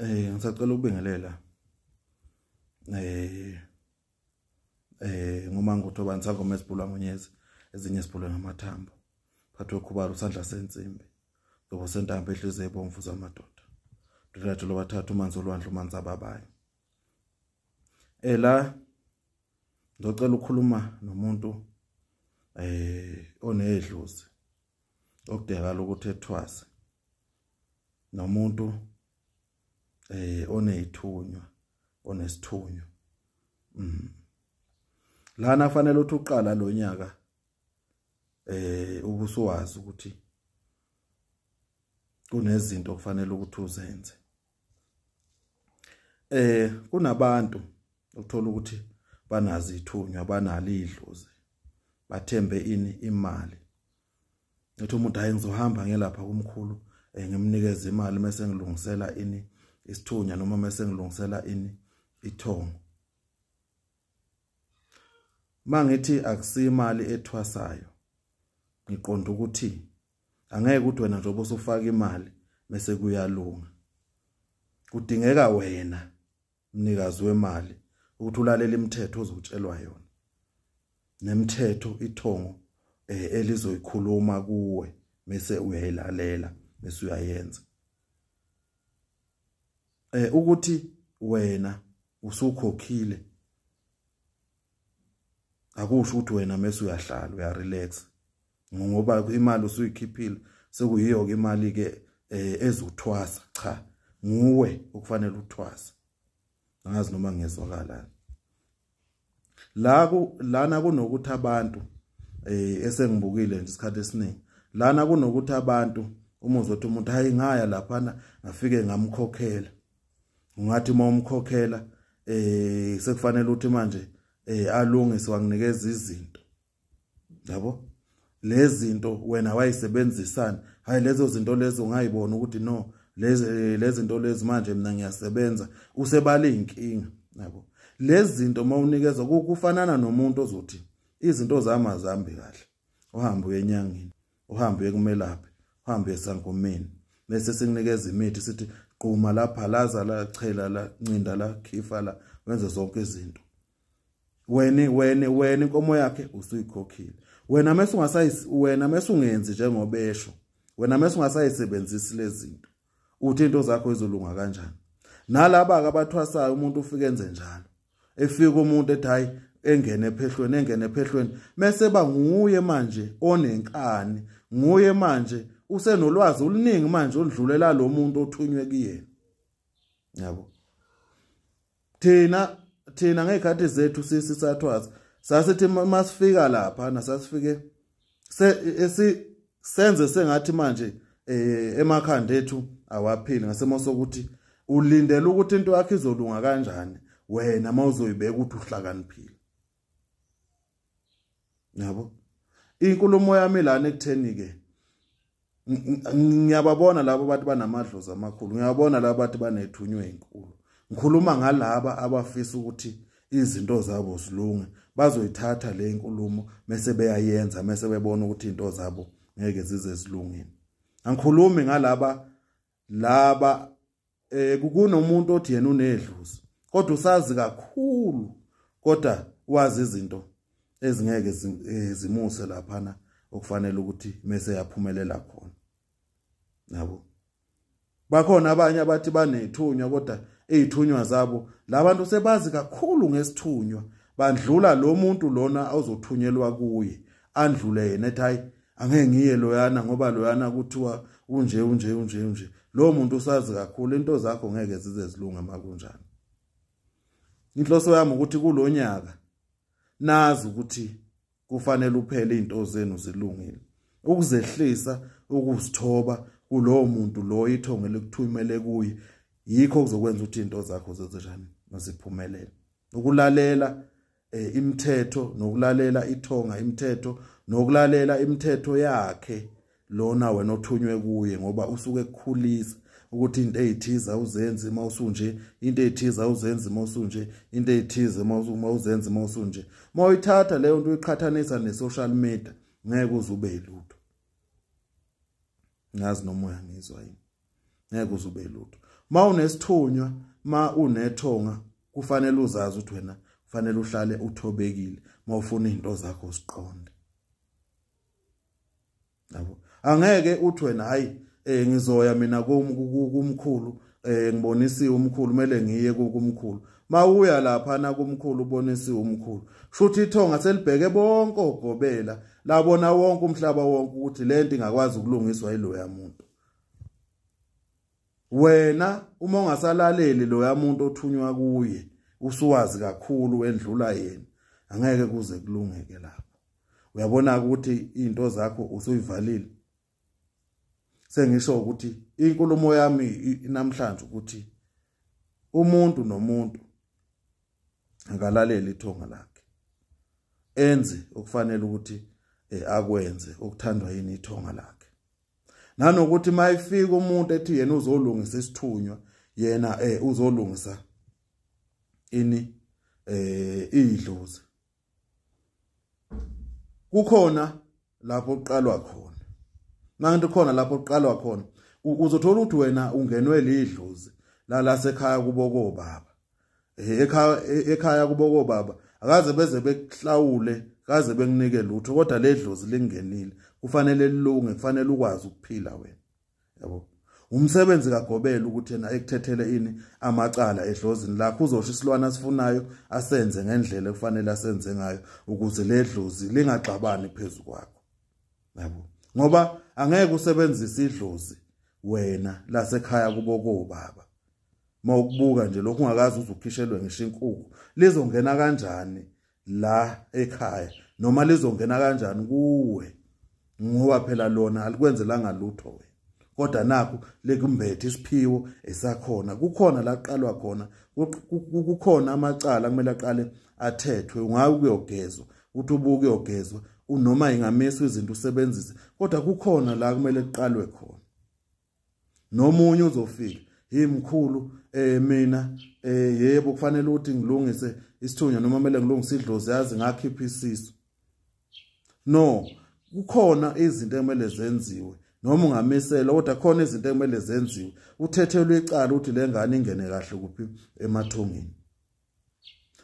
eh ngisacela ukubingelela eh eh ngomangutho bansangoma esibhulwa ngonyezi ezinye sibhulwe ngamathambo phathwe khubalo sandla sensimbi ngoba sentambo ehliziyo ebomvu zamadoda ndodade lobathathu umanzi olwandle umanzi ababayo ela ngicela ukukhuluma nomuntu eh onedlozi okudingakala ukuthi ethwase nomuntu eh onezithunywa onesithunywa mm lana fanele uthi uqala lo nyaka eh ubusuwazi ukuthi kunezinto okufanele ukuthi uzenze eh kunabantu uthola ukuthi banazi ithunywa banalo idlozi bathembe ini imali ngithi umuntu hayi ngizohamba ngelapha kumkhulu eh, ngimnikeza imali mase ngilungisela ini isithunya noma mase ngilungisela ini ithongo mangithi akusimali ethwasayo ngiqonda ukuthi angeke ukuthi wena njengoba usufaka imali mese kuyalunga kudingeka wena mnikazi wemali ukuthi ulalele imithetho ozotshelwa yona nemithetho ithongo eh, elizoyikhuluma kuwe mese uyayilalela mese uyayenza eh ukuthi wena usukhokhile akusho ukuthi wena mase uyahlala uyarelax ngoba imali usuyikhiphile sekuyiyo ke imali ke eh, ezothwasa cha nguwe okufanele uthwase angazi noma ngezwakalani la ku lana kunokuthi abantu eh esengibukile nje isikhathi esiningi lana kunokuthi abantu uma uzothi umuntu hayi ngaya lapha ngafike ngamkhokhela ungathi uma umkhokhela eh sekufanele uthi manje eh alungise wanginikeza izinto yabo lezinto wena wayisebenzisani hayi lezo zinto lezo ungayibona ukuthi no lezi eh, lezinto lezi manje mina ngiyasebenza usebala inkinga yabo lezinto mawunikeza kufanana nomuntu ozothi izinto zami azambi kahle uhamba uyenyangini uhambe uye kumelaphi uhambe esangomeni bese sikunikeza imithi sithi quma la phalaza la chela la ncinda la khifa la wenze zonke izinto wena wena wena inkomo yakhe usuyikhokhile wena mase ungasayisi wena mase ungenzi njengoba esho wena mase ungasayisebenzisi lezinto uthi into zakho izolunga kanjani nalaba ke abathwasayo umuntu ufike enze njalo efika umuntu ethi hayi engene ephehlweni engene ephehlweni mese ba nguye manje onenkani nguye manje usenolwazi oluningi manje oludlulela lo muntu othunywe kuyena yabo thina thina ngey'khathi zethu sisi sathwaza sasithi uma sifika lapha nasasifike senze sengathi manje um emakhanda ethu awaphili ngesimo sokuthi ulindele ukuthi into yakho izolunga kanjani wena uma uzoyibeka ukuthi uhlakaniphile yabo inkulumo yami lana ekutheni ke ngiyababona labo bathi banamadlozi amakhulu ngiyabona labo bathi banethunywe inkulu ngikhuluma ngalaba abafisa ukuthi izinto zabo zilunge bazoyithatha le inkulumo mase beyayenza mase bebona ukuthi into zabo ngeke zize zilungile angikhulumi ngalaba laba eh kukunomuntu othi yena unedluzi kodwa usazi kakhulu kodwa wazi izinto ezingeke eh, zimuse laphana okufanele ukuthi mese yaphumelela khona nabo bakhona abanye abathi banethunywa kodwa ezithunywa zabo labantu sebazi kakhulu ngesithunywa bandlula lo muntu lona ozothunyelwa kuye andlule yena ethi hayi angeke ngiye loyana ngoba loyana kuthiwa unje unje unje unje lowo muntu usazi kakhulu into zakho ngeke zize zilunge makunjani inhloso yami ukuthi kulonyaka nazi ukuthi kufanele uphele izinto zenu zilungile ukuzehlisa ukuzithoba kulowo muntu loyo ithongo elikuthumele kuye yikho kuzokwenza ukuthi izinto zakho zezinjani noziphumelele ukulalela eh, imithetho nokulalela ithonga imithetho nokulalela imithetho yakhe lona wena othunywe kuye ngoba usuke ekukhulisa ukuthi into eyithiza uzenze uma usunje into eyithiza uzenze uma usunje into eyithize uma uzenze uma usunje uma uyithatha leyo nto uyiqhathanisa ne-social media ngeke uze ube yilutho ngazi noma uyangizwa yini ngeke uzube lutho ma unesithunywa ma unethonga kufanele uzazi ukuthi wena kufanele uhlale uthobekile mawufuna izinto zakho ziqonde yabo angeke uthi wena hayi eh ngizoya mina kumkhulu eh ngibonisiwe umkhulu kumele ngiye kumkhulu mawuya lapha na kumkhulu ubonisiwe umkhulu shuthi ithonga selibheke bonke ogobela labona wonke umhlaba wonke ukuthi lento ingakwazi ukulungiswa yiloya muntu wena uma ungasalaleli loya muntu othunywa kuye usuwazi kakhulu endlula yena angeke kuze kulungeke lapho uyabona ukuthi izinto zakho usuyivalile sengisho ukuthi inkulumo yami namhlanje ukuthi umuntu nomuntu akalalele ithonga lakhe enze okufanele ukuthi eh, akwenze okuthandwa yini ithonga lakhe nanokuthi mayifika umuntu ethi yena uzolungisa isithunywa yena eh uzolungisa ini eh idlozi kukhona lapho uqalwa khona manje khona lapho uqalwa khona uzothola ukuthi wena ungenwe lidlozi la lasekhaya kubo kobaba eh, ekhaya eh, ekhaya kuboko baba akaze beze bekuhlawule kaze benginike lutho kodwa ledlozi lingenile kufanele lilunge kufanele ukwazi ukuphila wena yabo umsebenzi kagobela ukuthi yena ekuthethele ini amacala edlozini lakho uzosho isilwana asifunayo asenze ngendlela ekufanele asenze ngayo ukuze ledlozi lingagxabani phezulu kwakho yabo ngoba angeke usebenzise idlozi wena lasekhaya kubo kobaba uma ukubuka nje lokhu ungakazi uze ukhishelwe ngisho inkukhu lizongena kanjani la ekhaya noma lizongena kanjani kuwe ngoba phela lona alikwenzelanga lutho wena kodwa nakho lekumbethe isiphiwo esakhona kukhona la qalwa khona kukhona amacala kumele aqale athethwe ungayi ukuyogezwa uthi ubuke uyogezwa unoma ingamiswa izinto usebenzise kodwa kukhona la kumele kuqalwe khona nomunye uzofika hey mkhulu eh mina eh yebo kufanele ukuthi ngilungise isithunywa noma kumele ngilungise idlozi yazi ngakhipha isisu no kukhona izinto ekumele zenziwe noma ungamisela kodwa khona izinto ekumele zenziwe uthethelwe icala ukuthi lengane ingene kahle kuphi emathungeni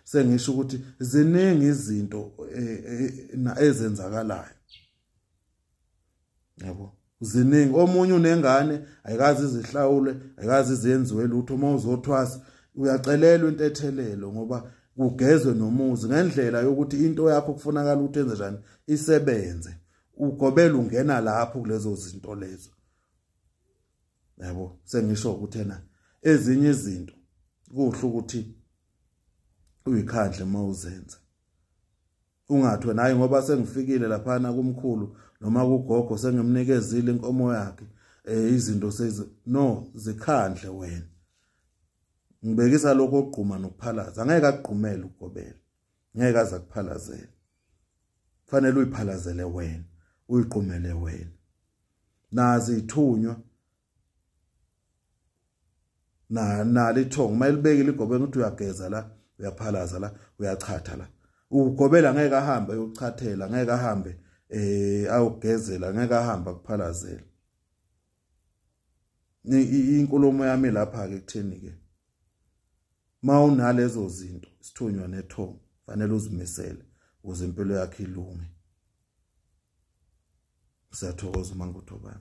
sengisho ukuthi ziningi izinto eh, eh, ezenzakalayo yabo ziningi omunye unengane ayikazi izihlawule ayikazi izenziwe lutho uma uzothwasa uyacelelwa intethelelo ngoba kugezwe nomuzi ngendlela yokuthi into yakho kufunakala ukuthi enze njani isebenze ugobela ungena lapho kulezo zinto lezo yabo sengisho ukuthi ena ezinye izinto kuhle ukuthi uyikhandle uma uzenza ungathi wena hayi ngoba sengifikile laphana kumkhulu noma kugogo sengimnikezile inkomo yakhe eh izinto sezi no zikhandle wena ngibekisa lokho ogquma nokuphalaza angeke akugqumele ukugobela ngeke aza kuphalazela fanele uyiphalazele wena uyiqumele wena nazi ithunywa na nali ithongo mayilibekile igobeni ukuthi uyageza la uyaphalaza la uyachatha la ugobela ngeke ahambe ayochathela ngeke ahambe eh awugezela ngeke ahamba kuphalazela inkulumo yami lapha ke kutheni ke mawunalezo zinto sithunywa nethongo fanele uzimisele ukuze impilo yakhe ilunge siyathokoza uma ngikuthoba